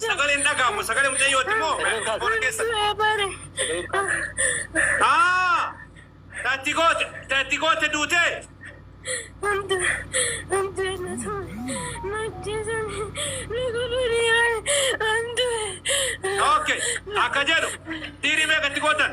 Sagalee hin dhaga'amu. Sagalee mucayyooti moo? Koona keessa. Haa! Tatti goote, tatti goote duutee. Okay. Akka jedhu dhiirii meeqa itti gootan?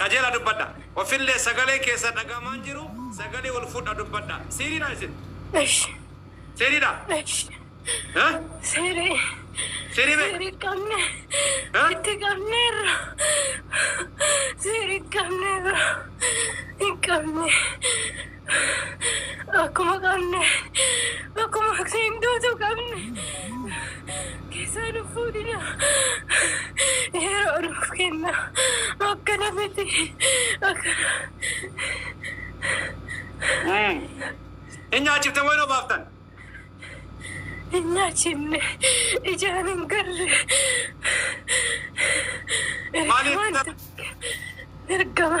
Qajeela dubbadha. Ofillee sagaleen keessan dhaga'amaa hin jiru. Sagalee ol fudha dubbadha. Seeriidhaa isin? Eshi. Seeriidhaa? Eshi. Ha? Seeri. Seerii mee? Seeri qabne. Ha? Itti qabneerra. Seeri qabneerra. Hin qabne. Akkuma qabne akkuma seentuutu qabne keessaa nu fuudhina yeroo nuuf kenna akkana miti akkana. Hin nyaachifte wayinoo baaftan. hin nyaachifne ijaan hin garre ergamaan tokko ergama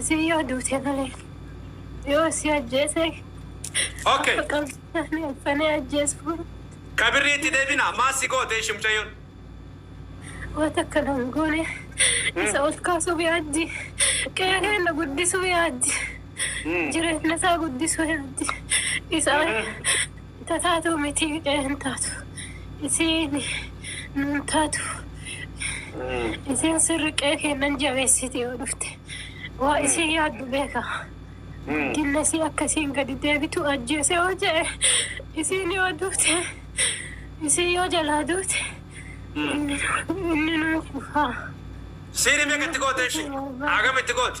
Isiin yoo duute malee yoo isii ajjeese Ok. akka qabsiisanii alfanee ajjeesuu Kabirrii itti deebina. Maal si goote ishi mucayyoon? waan takka na hin goone isa ol kaasuuf yaaddi qe'ee keenya guddisuuf yaaddi jireenya isaa guddisuu yaaddi isaa Tataatu mitii hidhee hin taatu isiin nuun taatu isiin sirri qee keennan jabeessiti yoo dhufte waa isiin yaaddu beeka guddinna isii akka isiin gadi deebitu ajjeese yoo je'e isiin yoo duute isiin yoo jalaa duute inni nuu kufaa. Siiri meeqa itti goote ishi? Hagam itti goote?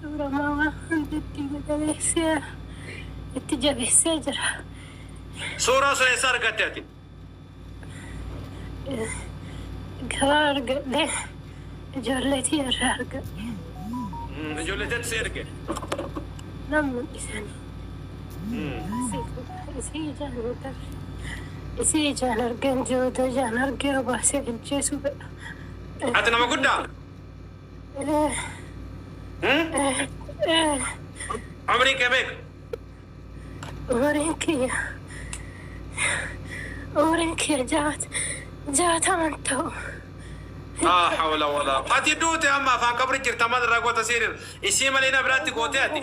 Suura Maama Hantuuttii Magariisa itti jabeessee jira. Suuraa sun eessa argatte ati? Gabaa argadhe. Ijoollee tiyya irraa argadhe. Ijoollee teetu si erge? Nan mul'isani. Isii ijaan hin agarre. Isii ijaan argeen jiru odoo ijaan argee obaasee bilcheessuu fedha. Ati nama guddaa? Umriin kee meeqa? Umriin kiyya umriin kiyya jaat jaataman ta'u. Laa hawla walaa ati duute amma afaan qabri jirta maal irraa goota siir isii malee na biraatti gootee ati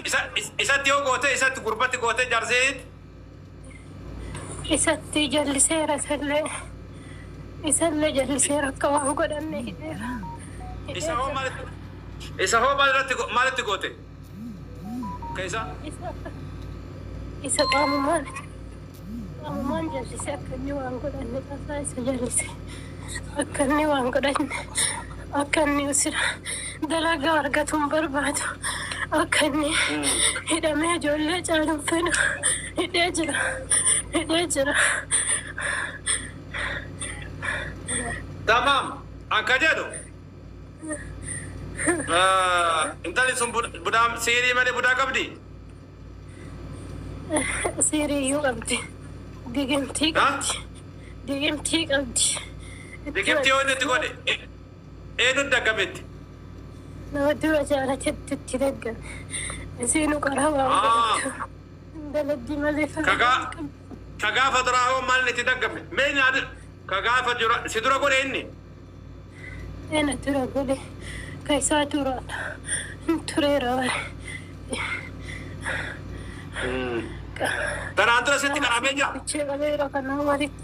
isatti yoo gootee isatti gurbatti gootee jaarsee isatti jalliseera isallee isallee jalliseera akka waan godhanne hidheera isa hoo maal isa hoo maal irratti go- maalitti goote ka isa isa isa qaamumaan qaamumaan jallise akka inni waan godhanne tasaa isa jallise akka inni waan godhanne akka inni usira Dalagaa argatu hin barbaadu. Akka inni hidhamee ijoollee caalu hin fedhu. Hidhee jira. Hidhee jira. Tamaam akka jedhu intalli sun budaa siirii malee budaa qabdi? Siirii iyyuu qabdi. Digimtii qabdi. Digimtii qabdi. Digimtii yoo inni itti godhe Eenut daggametti? Nama dura jaala jettutti daggame. Isiinu qaraa waan Aa. godhattu hin daladdi malee Ka faayidaa gaa- hin qabdu. ka gaafa duraa hoo maalin itti daggame? Mee nyaata ka gaafa dura si dura godhe inni? Eena dura godhe ka isaa duraadha. Hin tureera bare. Tanaan dura sitti qaramee jira? Bichee qabeera kanaa walitti.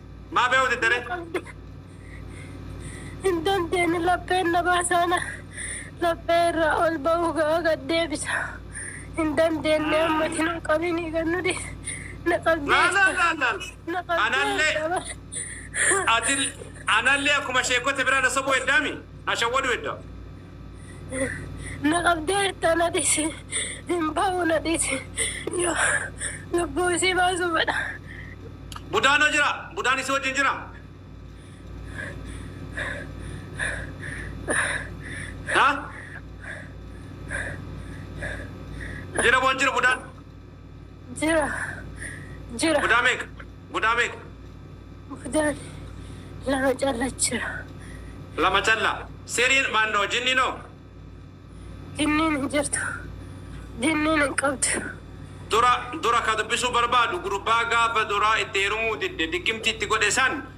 Maa beeku diddare? Hin dandeenye lapheen na baasaana laphee irraa ol ba'uu ga'a gad deebisa. Hin dandeenye ammati na qabini gad nu dhiisi. Na Laala qalbeessa. laala laala. Na Anallee qalbeessa bara. ati anallee akkuma sheekkota biraa na sobuu heddaami? Ashawwaduu hedda. Na qabdeerta na dhisi hin ba'u na dhisi yoo lubbuu isii baasuu fedha. Budaan hoo jiraa? Budaan isii wajjin jiraa? Haa? Jira moo hin jiru budaan? Jira. Jira. Gudaa meeqa? Gudaa meeqa? Gudaan lama calla jira. Lama calla. Siriin maannoo jinniin hoo? Jinniin hin jirtu. Jinniin hin qabdu. Dura dura ka dubbisuu barbaadu gurbaa gaafa duraa itti heerumuu didde diggimtii itti godhe san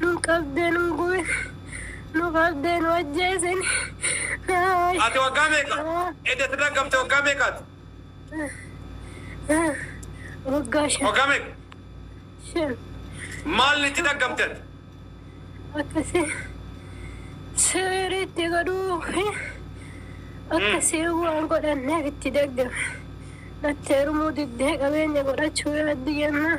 Nu qabdee nu gube. Nu qabdee nu ajjeesini. Haay. Ati waggaa meeqa? Edda sirra gamte waggaa meeqaati? Waggaa shan. Waggaa meeqa? Shan. Maal itti dhaggamte ati? Akkasi siriitti godhuu fi akkasi waan godhanneef itti daggame. Natti heerumuu diddee qabeenya godhachuu yaaddi jennaan.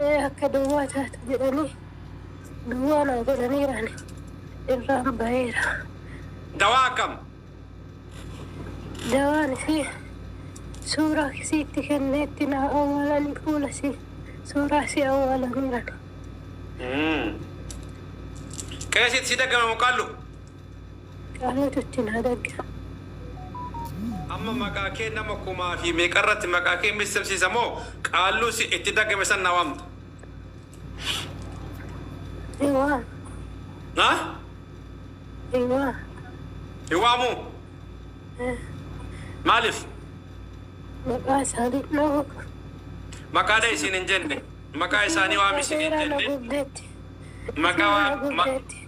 Ee akka duwwaa taate jedhanii duwwaa naa godhaniiraan irraan baheera. Dawaa akkam? Dawaan isii suuraa isii itti kennee itti naa awwaalanii fuula isii suuraa isii awwaalaniiran. Qeesiit sii dagame moo qallu? Qaalaatu itti naa dagga. Amma maqaa kee nama kumaa fi meeqa irratti maqaa kee missimsiisa moo qaalluu si itti daggame san na waamta? Hin waamu. Ha? Hin waamu. Hin waamu? Eh. Maaliif? Maqaa isaanii dhoogu. Maqaa dha'e siin hin jenne. Maqaa isaanii waami siin hin Seeraan jenne. gubdeetti. Maqaa Seeraan waa- ma- gubdeetti.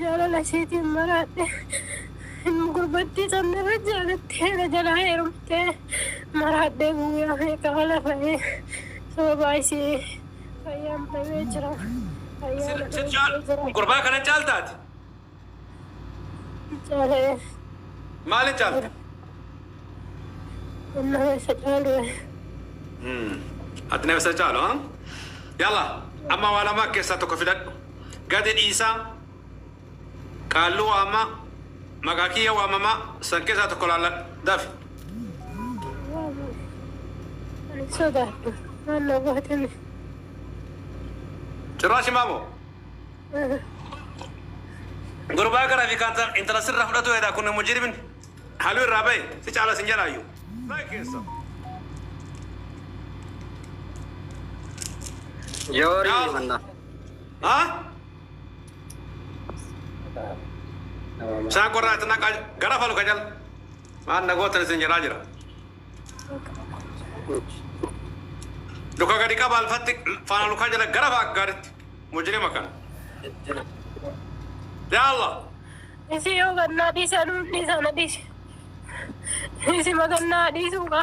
Jaalala isheetiin maraadhe. Ilma gurbattii sanirra jaalattee na jalaa heerumtee maraadhee guyyaa meeqa mala fa'ee sababaa isii fayyaan dhabee jira. Fayyaa na dhoowwee jira. Gurbaa kana caalta ati? Caalee. Maalin caalta? Nama isa caalu. Ati nama isa caalu haa? Yalla amma waa lama keessaa tokko filadhu. Gadi dhiisaa Qaalluu waammaa Maqaa kiyya waamamaa San keessaa tokko laalladha Dafi. Waamuu Ani hin sodaadhu Maal na goote mee. Cirraa shimaa moo. Gurbaa gara fi kaanta intala sirra fudhatu hedaa kun mujirimin halu irraa bahe si caala sin jalaayyu. Like keessa. Jawari Yaa Allah. manna. Ha? Saa qorraa itti naqaa gara falu ka jala. Maan nagootan isin jedhaa jira. Luka gadi qaba alfatti faana lukaa jala gara fa'a gaaritti. Mujrima kana. Yaa Allah. Isi yoo gannaa dhiisaa nuuf dhiisaa na dhiisi. Isi magannaa dhiisuu qaba.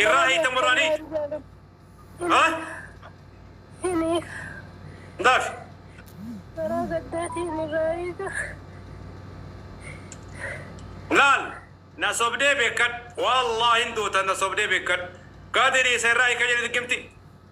Irraa hiitan barbaani? Ha? Ndaaf. Laal. Na sobdee beekan. Wallaahi hin duutan na sobdee beekan. Gaadiri isa irraa hiika jedhe diggimti.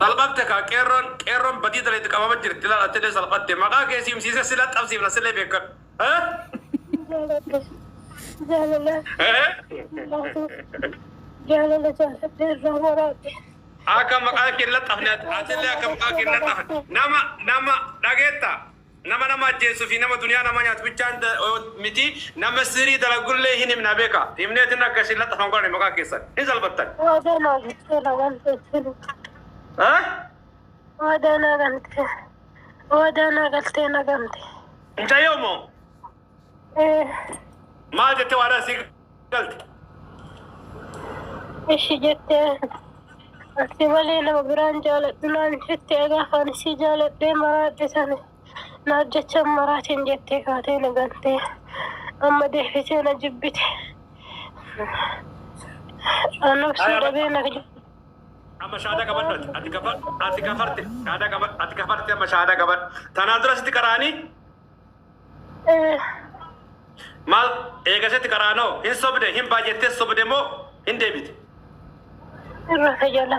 Salphatte kaa qeerroon qeerroon badii dalayde qabama jirti laal attilee salphatte maqaa kee si himsiise si laxxabsiifna sillee beekkadhu. Jaaladha jaalala jaalatu jaalala jaaladhe irraa waraabde. Akka maqaa kee hin laxxafne attillee akka maqaa kee hin laxxafne nama nama dhageetta Nama nama ajjeessu fi nama duniyaa namaa nyaatu bichaan miti nama sirii dalagullee hin himna beeka. Himneetiin akka isin laxxafan godhani maqaa keessan. Hin salphattan. Waada naa galtee na galtee jiru. Haa? Waada naa galtee. Waada naa galtee na galtee. Mucayyoo moo? Maal jettee waadaan sii galte? Ishi jettee ati malee nama biraan jaaladhu naan jette egaa kan isii jaaladhee maraadhe sana naaf jecha maraatiin jettee kaatee na gantee amma deefitee na jibbite. Anubsuu dhabee na Amma shaadaa qabadhu ati. Ati gafa- ati gafarte. Shaadaa qaba- Ati gafarte amma shaadaa qabadhu. Tanaan dura sitti qaraanii Maal eegasetti qaraanoo? Hin sobde, hin baay'attes sobde moo hin deebite? Irra isa jala.